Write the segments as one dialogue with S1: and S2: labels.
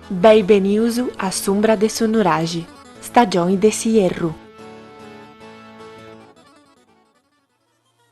S1: Beni benius a s'umbra de su nuraxi, stagioni de s'ierru.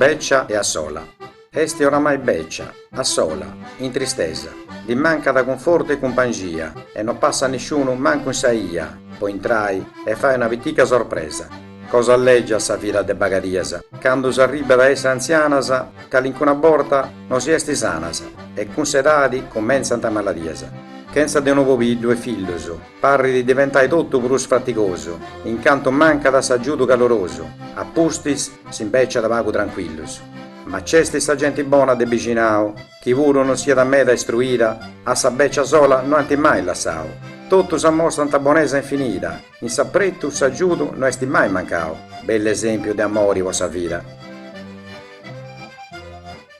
S1: Bècia e a sola. Est oramai bècia, a sola, in tristesa, ddi mancat cunfortu e cumpangia e no passat nisciunu mancu in sa 'ia po intrai e fai una pitica sorpresa. Cosa lègiat sa vida de bagadias candu s'arribbat a essi antzianas, calincuna borta no si est sanas e cun s'edadi cumentzant maladias. Chentza de unu pobiddu e fillus, Parrit diventai totu prus fatigosu, in cantu mancat s'agiudu calorosu, a pustis s'imbèciat pagu trancuillus. Ma nc'est sa genti bona de bixinau, chi puru non siat meda istruida, a sa bècia sola no ant mai lassau. Totus amostrant bonesa infinida, in s'apretu s'agiudu no est mai mancau, bell'esèmpiu de amori po sa vida.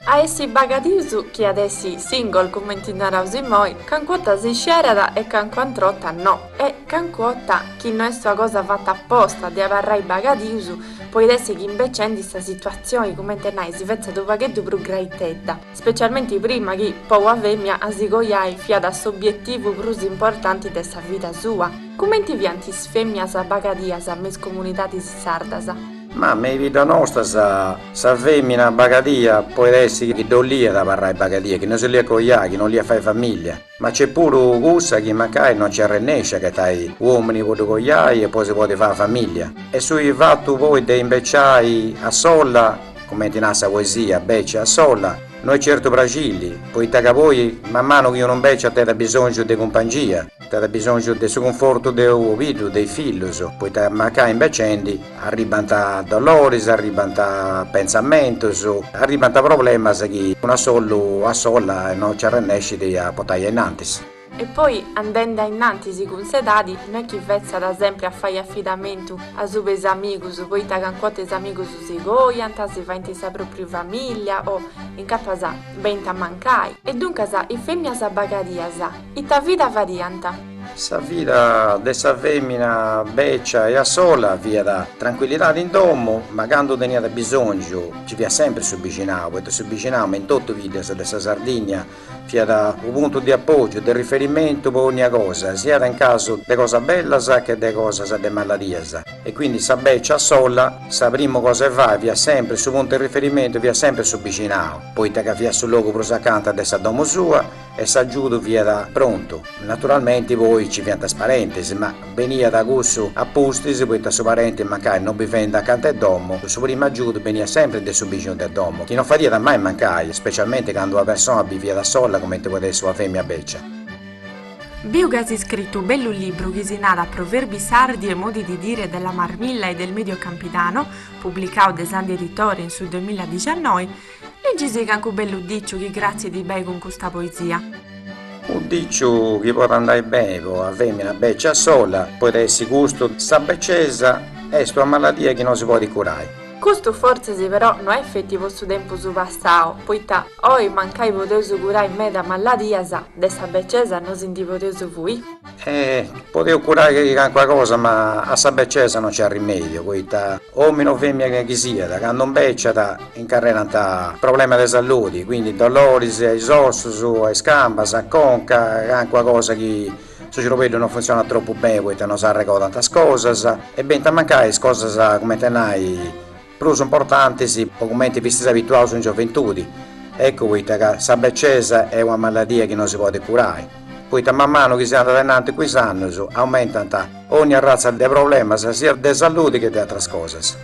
S1: A essi bagadius chi at essi single cumenti naraus immoi, cancu'ota si scerat e cancuantr'ota no, e cancu'ota chi no est una cosa fata aposta de abarrai bagadius, poit essi chi imbecendi sa situatzioni cumenti a nai si fetzat unu pagheddu prus graitedda, specialmenti prima chi po una femia a si coiai fiat s'obietivu prus importanti de sa vida sua, cumenti fiant is femias bagadias me is comunidadis sardas. Ma me 'i bidda nosta sa sa femina bagadia poit essi chi ddo 'oliat abarrai bagadia chi no si 'oliat coiai chi no 'oliat fai famiglia ma nc'est puru cussa chi mancai no nci arrennesci a agatai un'omini po ddu coiai e po si podi fai famiglia e su fattu poi de imbeciai a solla cumenti narat sa poesia becia e a solla no est certu praxilli poita ca poi man manu chi unu imbeciat tenit abisongiu de cumpangia Tenit bisòngiu de su cunfortu de unu pobiddu, de is fillus, poita mancai imbecendi arribbant doloris, arribbant pentzamentus, arribbant problemas chi una sollu a sola non nci arrennescit a portai ainnantis. E poi andendi ainnantis cun s'edadi no est chi fetzat sempri a fai afidamentu asubu 'e is amigus, poita canc'ota is amigus si coiant, si faint sa propriu famìllia o incapas benint a mancai. E duncas is fèmmias bagadias, Ita vida fadiant? Sa vida de sa fèmina bècia e a sola fiat trancuillidade in domu, ma candu teniat bisòngiu nci fiat semper su bixinau, poita su bixinau, me in totu is biddas de sa Sardigna, fiat unu puntu de apògiu, de riferimentu po ònnia cosa, siat in casu de cosas bellas che de cosas de maladias. E quindi sa bècia a sola, sa primu cosa 'e fai fiat semper, su puntu 'e riferimentu fiat semper su bixinau, poita ca fiat su logu prus acanta de sa domu sua, e s'agiudu fiat prontu, naturalmenti poi nci fiant is parentes, ma beniat cussu a pustis poita su parenti mancai no bivendi acanta 'e domu, su primu agiudu beniat sempri de su bixinu de domu, chi no fadiat mai mancai, specialmenti candu una persona biviat sola cumenti podet essi una femina becia. Biu ch'as iscritu u bellu libru chi si narat Proverbi sardi e modi di dire della Marmilla e del Medio Campidano, publicau de Sandhi Editore in su duamilla dixannoi, Ligisì cancu bellu diciu chi cratzit bei cun custa poesia. U diciu chi podit andai beni po una femina becia sola poit essi custu, sa beciesa est una maladia chi no si podit curai. Custu fortzis però no est feti po su tempus passau, poita oi mancai podeus curai meda maladias, de sa beciesa no si ndi podeus fui. E podeus curai calincuna cosa ma a sa becesa non c'at rimèdiu poita omini o femina chi siat candu imbeciat incarrerant problemas de saludi quindi doloris a is ossus a is cambas a conca calincuna cosa chi su ciorbeddu non funtzionat tropu beni poita non s'arregodant is cosas e benint a mancai is cosas cumenti a nai prus importantis po cumenti fistis abituaus in gioventudi, eccu poita ca sa becesa est una maladia chi non si podit curai, poita man manu chi si andat ainnanti cun is annus aumentant ogni arratza de problemas siat de salludi che de atras cosas.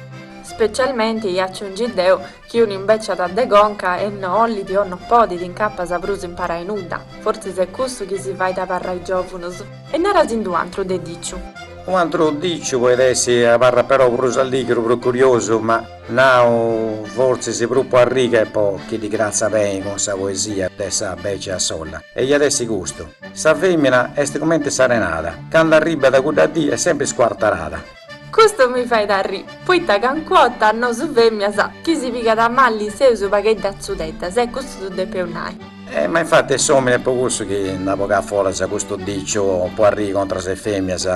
S1: Specialmenti ia aciungi deu chi unu imbeciat de conca e no ollit o no podit incapas prus imparai nudda, fortzis est cussu chi si fait abarrai giovunus. E narasindi u antru de diciu. U antru diciu poit essi, abarrat però prus alligru, prus curiosu, ma nau fortzis prus po arri che po chi ddi cratzat beni cun sa poesia de sa becia solla. E iat essi custu. Sa femina est cumenti s'arenada, candu arribbat cudda dì est sempri scuartarada. Custu mi fait arri, poita cancu 'orta nosu femias chi si pigat a malli seus pagheddu atzudeddas e custu ddu depeus nai. E ma infatti est s'omini po cussu chi nd'at bogau foras custu diciu po arri contras is femias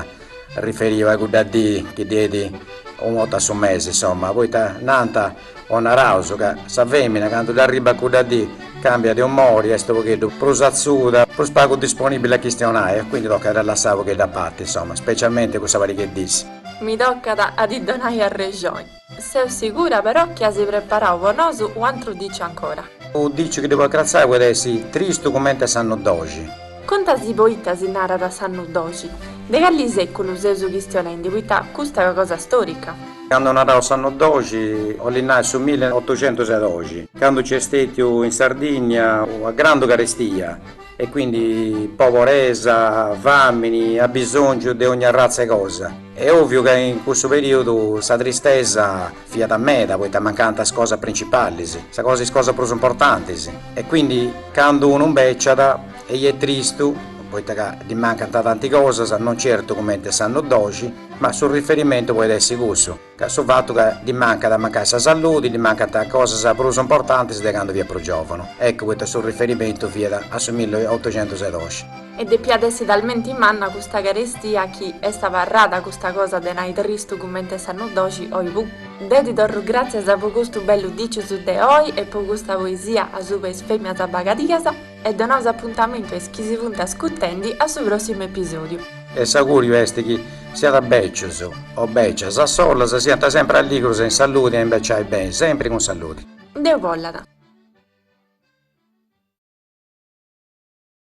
S1: riferiu a cudda dì chi ddi enit u 'orta a su mesi insomma poita nanta O naraus ca sa femina candu dd'arribat cudda dì cambiat de umori, est u pogheddu prus atzuda, prus pagu disponibili a chistionai e quindi tocat a dda lassai u pogheddu a parti insoma, specialmente cussa pariga 'e dis. Mi tocat a ddi donai arrexoni. Seu sigura però chi as preparau po nosu u antru diciu ancora. U diciu chi ddi podit cratzai poit essi tristu cumenti s'annu doxi. Contasì poita si narat s'annu doxi? De calli seculu seus chistionendi poita custa est cosa storica? Candu naraus s'annu doxi 'olli nai su milli otucentus e doxi, candu nci est stetiu in Sardinnia una grandu carestia e quindi poboresa, famini, abisongiu de ogni arratza 'e cosa e oviu ca in cussu periudu sa tristesa Fiat meda poita mancànt is cosas principalis, sa cosa is cosas prus importantis e quindi candu unu mbeciat est tristu poita ca ddi mancant tanti cosas, non certu cumenti s'annu doxi, ma su riferimentu podit essi cussu, ca su fatu ca ddi mancat, mancai sa saludi, ddi mancant cosas prus importantis de candu fiat prus giòvunu, eccu poita su riferimentu fiat a su milli otocentus e doxi. E depiat essi talmenti manna custa carestia chi est abarrada custa cosa de nai tristu cumenti e s'annu doxi. Oi puru deu ti torru gràtzias po custu bellu dicius de oi e po custa poesia asuba 'e is fèmias bagadias e donaus apuntamentu a is chi si funt ascutendi a su pròssimu episòdiu. E s'augùriu est chi siant bècius o bècias a solas, siant sempri alligrus e in saludi a imbeciai beni sempri cun saludi. Deus bollat.